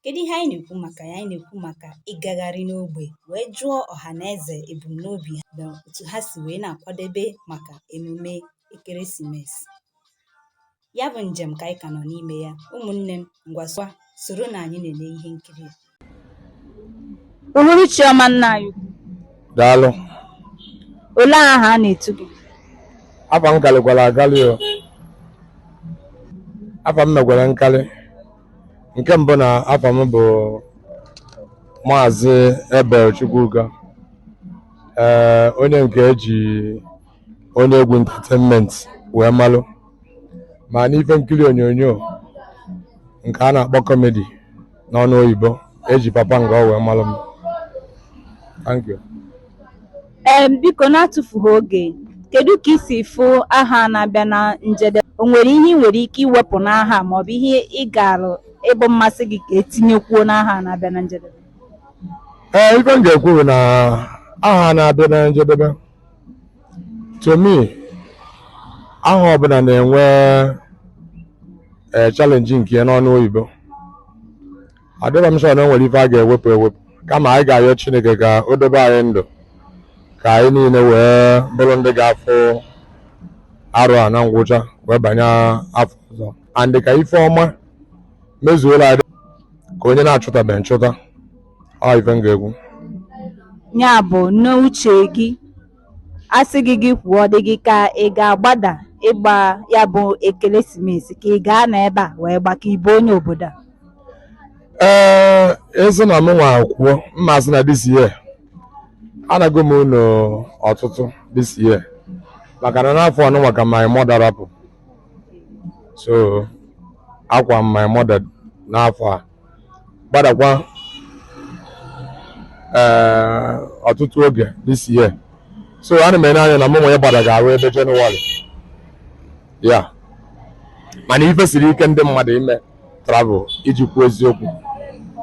Kedu ihe anyị na-ekwu maka ya? Anyị na-ekwu maka ịgagharị n'ogbe wee jụọ ọha na eze ebumnobi ha na otu ha si wee na-akwadebe maka emume ekeresimesi. Ya bụ njem ka anyị ka nọ n'ime ya. Ụmụnne m, ngwa soro soronụ anyị na-ele ihe nkiri a. Uhuruchi ọma nna anyị ukwu. Daalụ. Olee aha a na-etu gị? Afa m kalịkwara akalị o. Afa m mekwara nkalị. nke mbụ na afa m bụ maazị ebel chukwuka ee onye nke e ji onye egwu entertainment wee malụ ma n'ife nkiri onyonyo nke a na-akpọ comedy n'ọnụ oyibo e ji papa nga ọ wee malụ m thank you Ee, biko n'atụfughị oge, kedu ka i si fụ ahọ a na-abịa na njedebe? O nwere ihe ị nwere ike iwepụ n'ahọ a ma ọ bụ ihe ị gaara ịbụ mmasị gị ka e tinyekwuo n'ahọ a na-abịa na njedebe? Ee, ife m ga-ekwu bụ na ahọ a na-abịa na njedebe to me ahọ ọbụla na-enwe ee challenge nke ya n'ọnụ oyibo adịrọ m sure na o nwere ife a ga-ewepụ ewepụ kama anyị ga-ayọ chineke ka o dobe anyị ndụ ka anyị niile wee bụrụ ndị ga-afụ arọ a na ngwụcha wee banye afọ ọzọ and ka ife ọma mezuolu anyị ka onye na-achụtabeghị nchụta ọ ife m ga-ekwu ya bụ n'uche gị A sị gị gị kwuo, ọ dị gị ka ị ga-agbada ịgba ya bụ ekeresimesi ka ị ga-anọ ebe a wee gba ka ị bụ onye obodo a? ee a sị na mụ nwa kwuo mma asị na this year anago m ụnọ ọtụtụ this year maka na n'afọ ọnụnwa ka my mother rapụ so akwa m my mother n'afọ a gbadakwa ee ọtụtụ oge this year so ana m ene anya na mụ nwa ịgbada ga-abụ ebe Jenụwarị ya mana ife siri ike ndị mmadụ ime travel iji kwuo eziokwu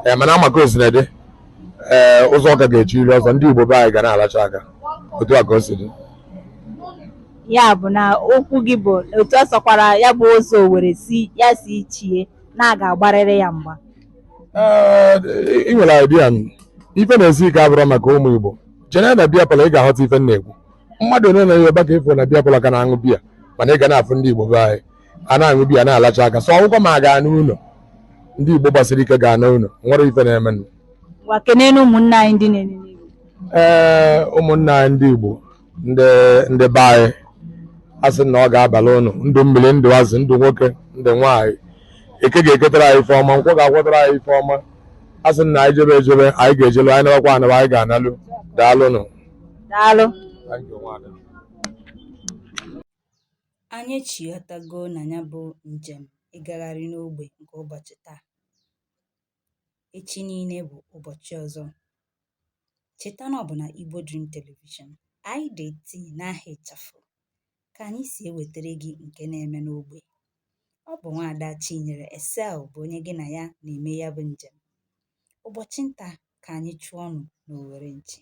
ee mana a ma ka o sina dị ee ụzọ ka ga-echiri ọzọ ndị Igbo be anyị ga na-alacha aka otu a ka o si dị ya bụ na okwu gị bụ otu ọ sọkwara ya bụ ụzọ were si ya si chie na a ga-agbarịrị ya mgba Ee, ị nwere idea m ife na-esi ike abụrọ maka ụmụ Igbo jene na beer parlour ị ga-aghọta ife m na-ekwu mmadụ ole na Yoruba ka ị fụ na beer parlour ka na-aṅụ biya mana ị ga na-afụ ndị Igbo be anyị a na-aṅụ biya na-alacha aka so ọgwụkwọ ma ga-ana ụnọ ndị Igbo gbasiri ike ga-ana ụnọ o nwerọ ife na-eme nụ. ngwa kenenụ ụmụnne anyị ndị na-enene Igbo ee ụmụnna anyị ndị Igbo ndị ndị be anyị a sị na ọ ga-abala ụnụ ndụ mmiri ndụ azụ ndụ nwoke ndụ nwaanyị eke ga-eketara anyị ife ọma nkwọ ga-akwọtara anyị ife ọma a sị na anyị jebe ejebe anyị ga-ejelu anyị nabakwa anaba anyị ga-analụ daalụnụ daalụ anyị echighatago na ya bụ njem ịgagharị n'ogbe nke ụbọchị taa echi niile bụ ụbọchị ọzọ cheta na ọ bụ na Igbo Dream Television IDT n'aha ịchafụ ka anyị si ewetara gị nke na-eme n'ogbe ọ bụ nwaada Chinyere Esel bụ onye gị na ya na-eme ya bụ njem ụbọchị nta ka anyị chụọnụ n'owere nchi